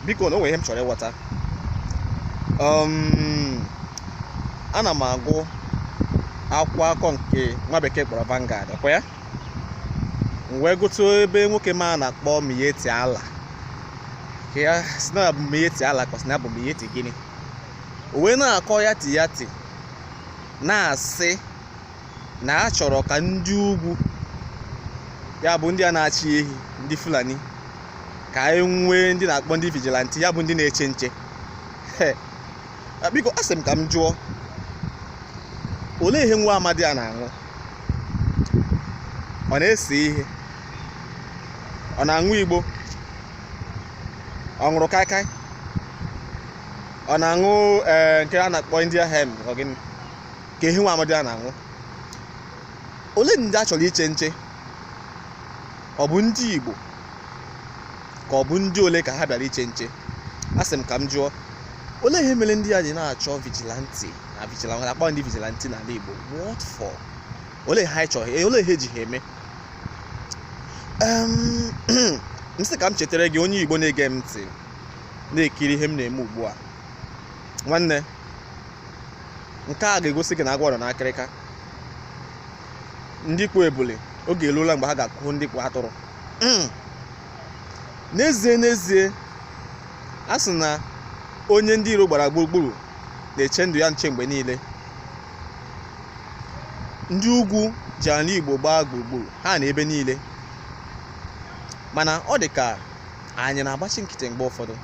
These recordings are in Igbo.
biko na o nwere ihe m chọrọ ịghọta um, ana m agụ akwụkwọ akụkọ nke nwa bekee kpọrọ Vanguard ọkwa ya m wee gụtụ ebe nwoke m a na-akpọ Miyetti Allah ka a sị na ọ bụ Miyetti Allah ka a sị na ọ bụ Miyetti gịnị o wee na-akọ ya ti ya ti na-asị na a chọrọ ka ndị ugwu ya bụ ndị a na-achị ehi ndị fulani ka anyị nwee ndị na-akpọ ndị vigilante ya bụ ndị na-eche nche biko asị m ka m jụọ olee ihe nwa amadi a na-aṅụ ọ na-ese ihe ọ na-aṅụ igbo ọ ṅụrụ kaikai ọ na-aṅụ eh, nke a na-akpọ india hemp ọ gịnị ka ihe nwa amadi a na-aṅụ olee ndị a chọrọ iche nche ọ bụ ndị Igbo ka ọ bụ ndị ole ka ha bịara iche nche asị m ka m jụọ olee ihe mere ndị a ji na-achọ vigilante na vigilante akpọ ndị vigilante n'ala Igbo what for olee ihe ha chọrọ olee ihe e ji ha eme m sị ka m chetara gị onye Igbo na-ege m ntị na-ekiri ihe m na-eme ugbu a nwanne nke a ga-egosi gị na agwọ nọ n'akịrịka ndị kpụ ebule oge eruola mgbe ha ga-akụ ndị kpụ atụrụ hmm. n'ezie n'ezie a sị na onye ndị iro gbara gburugburu na-eche ndụ ya nche mgbe niile ndị ugwu ji ala igbo gbaa gburugburu ha nọ ebe niile mana ọ dị ka anyị na-agbachi nkịtị mgbe ụfọdụ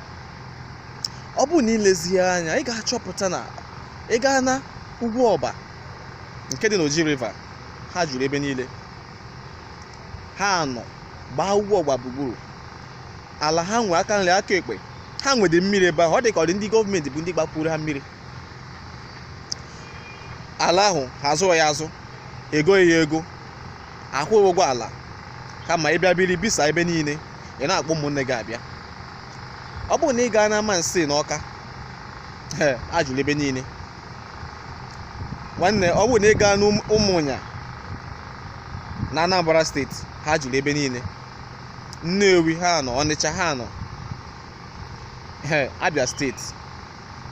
ọ bụrụ na i lezie anya ị ga-achọpụta na ị gaa na ugwu ọba nke dị n'oji river ha juru ebe niile ha nọ gbaa ugwu ọba gburugburu ala ha nwe aka nri aka ekpe ha nwede mmiri ebe ahụ ọ dị ka ọ dị ndị gọọmenti bụ ndị gbapuru ha mmiri ala ahụ ha azụghị ya azụ egoghị ya ego akwụghị ụgwọ ala kama ị bịa biri bisa ebe niile ị na-akpọ ụmụnne gị abịa ọ bụrụ na ị gaa n'amansị na ọka ha juru ebe niile nwanne ọ bụrụ na ị gaa n'ụmụnya na anambra steeti ha juru ebe niile nnewi ha nọ ọnịcha ha nọ abịa steeti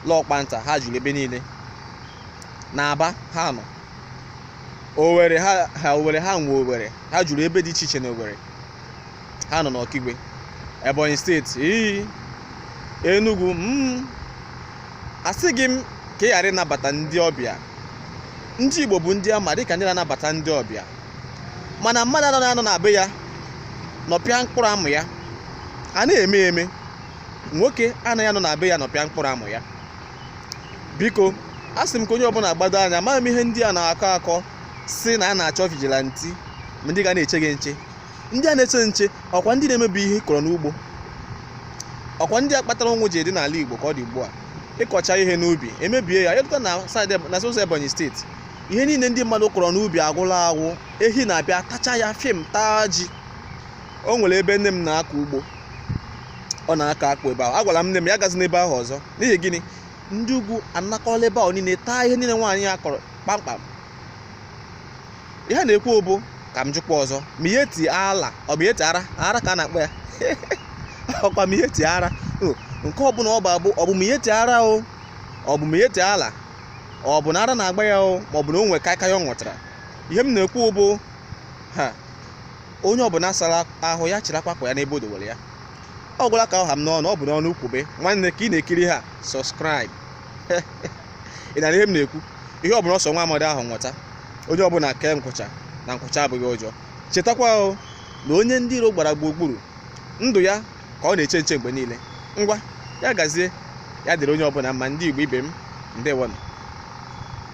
lọkpanta ha juru ebe niile na aba ha nọ owere ha nwe owere ha juru ebe dị iche iche na owere ha nọ n'ọkigwe ebonyi steeti iyi enugu m mm. asịghị m ka ị ghara ịnabata ndị ọbịa ndị igbo bụ ndị a ma dịka ndị na-anabata ndị ọbịa mana mmadụ ana anọ na be ya nọpịa mkpụrụ amụ ya a na-eme eme nwoke anaghị anọ na be ya nọpịa mkpụrụ amụ ya biko asị m ka onye ọbụla gbado anya amaghị m ihe ndị a na-akọ akọ sị na a na-achọ vigilante ma ndị ga na-eche gị nche ndị a na-eche nche ọkwa ndị na-emebi ihe kọrọ n'ugbo ọkwa ndị a kpatara ụnwụ ji dị n'ala Igbo ka ọ dị ugbu a ị kọcha ihe n'ubi e mebie ya ị lọta na saịdị na sosa Ebonyi steeti ihe niile ndị mmadụ kọrọ n'ubi agwụla agwụ ehi na-abịa tacha ya fim taa ji o nwere ebe nne m na-akọ ugbo ọ na-akọ akpụ ebe ahụ agwara m nne m ya agazina ebe ahụ ọzọ n'ihi gịnị ndị ugwu anakọla ebe ahụ niile taa ihe niile nwaanyị a kọrọ kpamkpam ihe a na-ekwu bụ ka m jụkwa ọzọ miyetti allah ọ miyetti ara ara ka a na-akpọ ya ọkwa miyetti ara nke ọbụla ọ bụ abụ ọ bụ miyetti ara o ọ bụ miyetti allah ọ bụ na ara na-agba ya o ma ọ bụ na o nwee kaịkaị ọ ṅụtara ihe m na-ekwu bụ ha onye ọbụla sara ahụ ya chịrị akwakwa ya n'ebe o dowere ya ọ gwụla ka ọ ha m n'ọnụ ọ bụ n'ọnụ o kwube nwanne ka ị na-ekiri ha subscribe ị na-anụ ihe m na-ekwu ihe ọbụla ọ sọ nwa amadị ahụ ṅụta onye ọbụla kee nkwụcha na nkwụcha abụghị ụjọ chetakwa o na onye ndị iro gbara gburugburu ndụ ya ka ọ na-eche nche mgbe niile ngwa ya gazie ya dịrị onye ọbụla mma ndị igbo ibe m ndewonụ